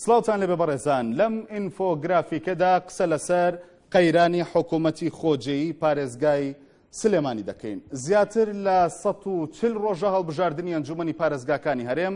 سڵاوتان لێبێ بەڕێزان لەم ئینفۆگرافیکەدا قسە لەسەر قەیرانی حکوومەتی خۆجێی پارێزگای سلێمانی دەکەین زیاتر لە 140 ڕۆژە هەڵبژاردننی ئەنجومنی پارێزگاکانی هەرێم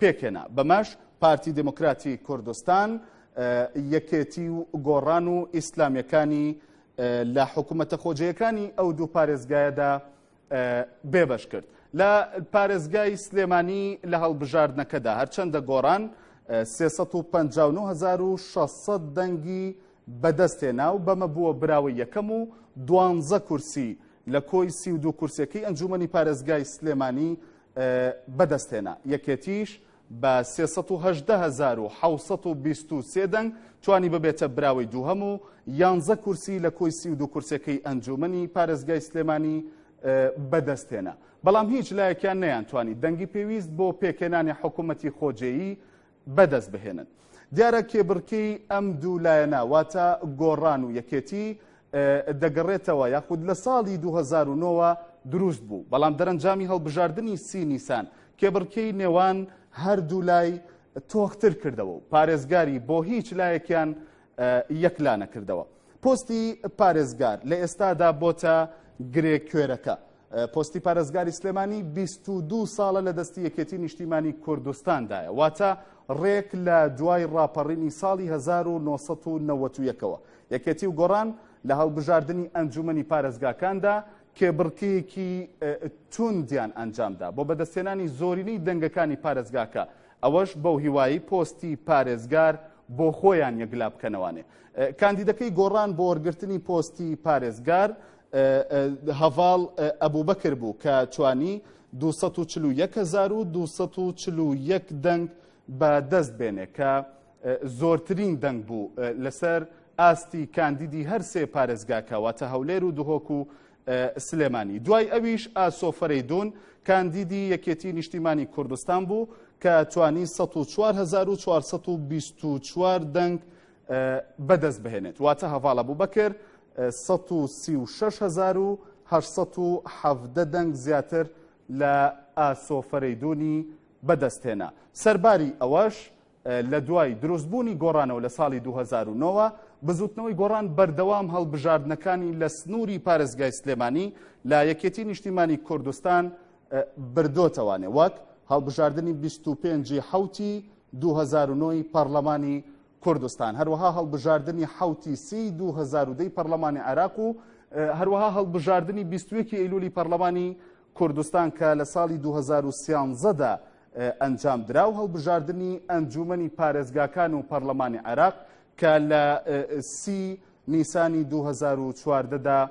پێکهێنا. بەمەش پارتی دێموکراتی کوردستان، یەکێتی و گۆڕان و ئیسلامییەکانی لە حکوومەتە خۆجێیەکانی ئەو دوو پارێزگایەدا بێبەش کرد. لە پارێزگای سلێمانی لە هەڵبژاردنەکەدا هەرچەندە گۆڕان 359600 دەنگی بەدەستێنا و بەمە بووە براوە یەکەم و دوانزە کورسی لە کۆی سی و دوو کورسەکەی ئەنجومنی پارێزگای سلێمانی بەدەستهێنا، یەکێتیش بە سێ سەد و هەژدە هەزار و حەوت سەد و بیست و سێ دەنگ توانی ببێتە براوەی دووهەم و یانزە کورسی لە کۆی سی و دوو کورسیەکەی ئەنجوومەنی پارێزگای سلێمانی بەدەستهێنا، بەڵام هیچ لایەکیان نەیانتوانی دەنگی پێویست بۆ پێکهێنانی حکوومەتی خۆجێیی بەدەست بهێنن. دیارە کێبڕکێی ئەم دوو لایەنە واتە گۆڕان و یەکێتی دەگەڕێتەوە یاخود لە ساڵی 2009ەوە دروست بوو بەڵام دەرەنجامی هەڵبژاردننی سی نیسان کێبڕکێی نێوان هەردوو لای تۆختر کردەوە و پارێزگاری بۆ هیچ لایەکیان یەکلا نەکردەوە پۆستی پارێزگار لە ئێستادا بۆتە گرێ کوێرەکە پۆستی پارێزگاری سلێمانی بیست و دوو ساڵە لە دەستی یەکێتی نیشتیمانی کوردستاندایە واتە ڕێک لە دوای ڕاپەڕینی ساڵی 1990ەوە یەکێتی و گۆڕان لە هەڵبژاردننی ئەنجومنی پارێزگاکاندا کێبڕکیەکی توندیان ئەنجامدا بۆ بەدەستێنانی زۆرینەی دەنگەکانی پارێزگاکە ئەوەش بەو هیوایی پۆستی پارێزگار بۆ خۆیان یەکلا بکەنەوانێ کاندیدەکەی گۆڕان بۆ وەرگرتنی پۆستی پارێزگار هەڤاڵ ئەبوبەکر بوو کە توانی 241241 دەنگ بە دەست بێنێ کە زۆرترین دەنگ بوو لەسەر ئاستی کاندیدی هەر سێ پارێزگاکە واتە هەولێر و دهۆک و سلێمانی دوای ئەویش ئاسۆ فەرەیدون کاندیدی یەکێتی نیشتیمانی کوردستان بوو کە توانی 1424 دەنگ بەدەست بهێنێت واتە هەڤاڵ ئەبوبەکر سەد و سی و شەش هەزار و هەشت سەد و حەڤدە دەنگ زیاتر لە ئاسۆ فەرەیدوونی بەدەست هێنا سەرباری ئەوەش لە دوای دروستبوونی گۆڕانەوە لە ساڵی 2009ەوە بزوتنەوەی گۆڕان بەردەوام هەڵبژاردنەکانی لە سنووری پارێزگای سلێمانی لە یەکێتی نیشتیمانی کوردستان بردۆتەوانێ وەک هەڵبژاردننی 25 حوتی دوو هەزار و نۆ ی پارلەمانی کوردستان، هەروەها هەڵبژاردنی حەوت ی سی ی دوو هەزار و دە ی پارلەمانی عێراق و هەروەها هەڵبژاردنی بیست و یەک ی ئەیلولی پارلەمانی کوردستان کە لە ساڵی دوو هەزار و سیانزە دا ئەنجام درا و هەڵبژاردنی ئەنجوومەنی پارێزگاکان و پارلەمانی عێراق کە لە سی نیسانی دوو هەزار و چواردە دا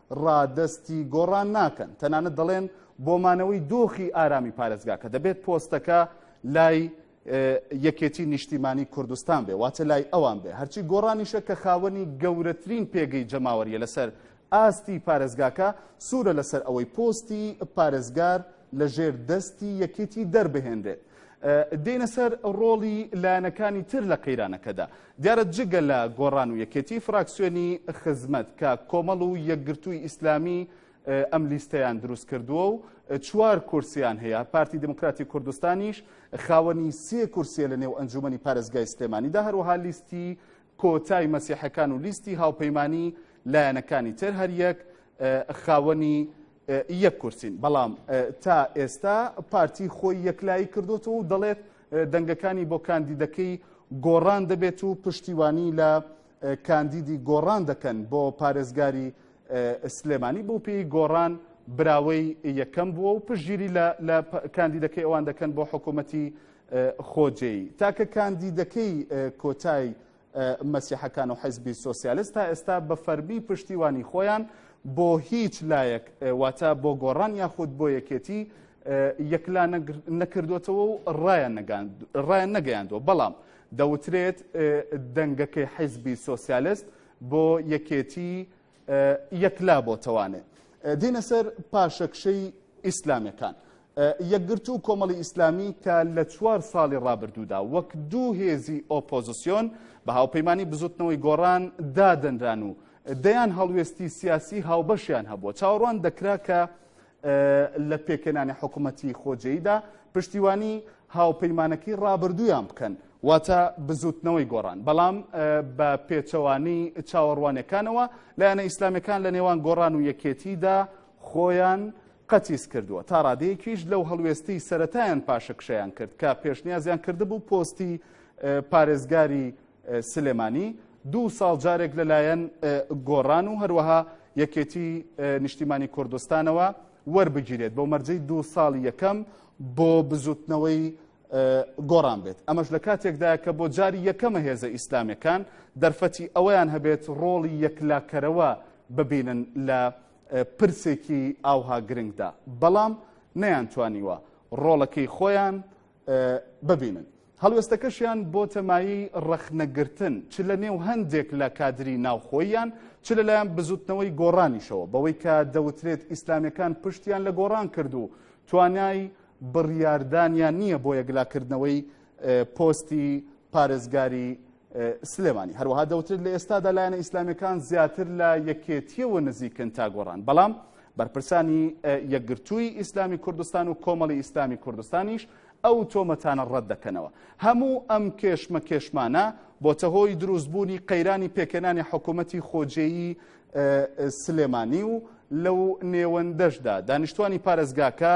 ڕادەستی گۆڕان ناکەن، تەنانەت دەڵێن بۆ مانەوەی دۆخی ئارامی پارێزگاکە دەبێت پۆستەکە لای یەکێتی نیشتیمانی کوردستان بێ واتە لای ئەوان بێ هەرچی گۆڕانیشە کە خاوەنی گەورەترین پێگەی جەماوەریە لەسەر ئاستی پارێزگاکە سوورە لەسەر ئەوەی پۆستی پارێزگار لەژێر دەستی یەکێتی دەربهێنرێت. دێنە سەر ڕۆڵی لایەنەکانی تر لە قەیرانەکەدا دیارە جگە لە گۆڕان و یەکێتی فراکسیۆنی خزمەت کە کۆمەڵ و یەکگرتووی ئیسلامی ئەم لیستەیان دروست کردووە و چوار کورسیان هەیە پارتی دموکراتی کوردستانیش خاوەنی سێ کورسیە لە نێو ئەنجومی پارێزگای سلێمانیدا هەروەها لیستی کۆتای مەسیحەکان و لیستی هاوپەیمانی لایەنەکانی تر هەریەک خاوەنی یەک کورسین، بەڵام تا ئێستا پارتی خۆی یەکلایی کردوتەوە و دەڵێت دەنگەکانی بۆ کاندیدەکەی گۆڕان دەبێت و پشتیوانی لە کاندیدی گۆڕان دەکەن بۆ پارێزگاری سلێمانی بۆ پێی گۆڕان براوەی یەکەم بووە و پشگیری لە کاندیدەکەی ئەوان دەکەن بۆ حکوومەتی خۆجێی تاکە کاندیدەکەی کۆتای مەسیحەکان و حیزبی سۆسیالست تا ئێستا بە فەرمی پشتیوانی خۆیان بۆ هیچ لایەک واتە بۆ گۆڕان یاخود بۆ یەکێتی یەکلا نەکردوێتەوە و ڕایان نەگەیاندوە بەڵام دەوترێت دەنگەکەی حیزبی سۆسیالست بۆ یەکێتی یەکلا بۆتەوانێ دێنە سەر پاشەکشەی ئیسلامەکان. یەکگرتو و کۆمەڵی ئیسلامی کە لە چوار ساڵی ڕابردوودا وەک دوو هێزی ئۆپۆزیسیۆن بە هاوپەیمانی بزوتنەوەی گۆڕان دادەنران و دەیان هەڵوێستی سیاسی هاوبەشیان هەبووە چاوەڕوان دەکرا کە لە پێکهێنانی حکوومەتی خۆجێیدا پشتیوانی هاوپەیمانەکەی ڕابردوویان بکەن واتە بزوتنەوەی گۆڕان بەڵام بە پێچەوانی چاوەڕوانەکانەوە لایەنە ئیسلامەکان لە نێوان گۆڕان و یەکێتیدا خۆیان قەتیس کردووە تا ڕادەیەکیش لەو هەڵوێستی سەتایان پاشەکشیان کرد کە پێشنیازیان کردبوو پۆستی پارێزگاری سلێمانی، دوو ساڵ جارێک لەلایەن گۆڕان و هەروەها یەکێتی نیشتیمانی کوردستانەوە وەربگیرێت بۆ مەرجەی دوو ساڵی یەکەم بۆ بزوتنەوەی گۆڕان بێت ئەمەش لە کاتێکدا کە بۆ جاری یەکەمە هێزە ئیسلامەکان دەرفەتی ئەویان هەبێت ڕۆڵی یەکلاکەرەوە ببینن لە پرسێکی ئاوها گرنگدا بەڵام نەیان توانیوە ڕۆڵەکەی خۆیان ببینن. هەڵوێستەکەشیان بۆتە مایەی ڕەخنەگرتن چ لە نێو هەندێک لە کادری ناوخۆییان چ لەلایەن بزوتنەوەی گۆڕانیشەوە بەوەی کە دەوترێت ئیسلامیەکان پشتیان لە گۆڕان کرد و توانای بڕیاردانیان نییە بۆ یەکلاکردنەوەی پۆستی پارێزگاری سلێمانی. هەروەها دەوترێت لە ئێستادا لایەنە ئیسلامیەکان زیاتر لە یەکێتیەوە نزیکن تا گۆڕان بەڵام بەرپرسانی یەکگرتووی ئیسلامی کوردستان و کۆمەڵی ئیسلامی کوردستانیش ئەو تۆمەتانە ڕەت دەکەنەوە هەموو ئەم کێشمە کێشمانە بۆتە هۆی دروستبوونی قەیرانی پێکەنانی حکوومەتی خۆجێیی سلێمانی و لەو نێوەندەشدا دانیشتوانی پارێزگاکە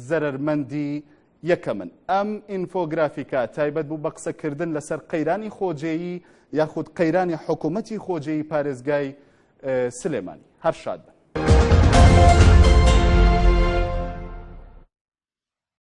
زەرمەندی یەکەمن، ئەم ئینفۆگرافیکە تایبەت بوو بە قسەکردن لەسەر قەیرانی خۆجێیی یاخود قەیرانی حکومەتی خۆجێی پارێزگای سلێمانی. هەر شاد بن.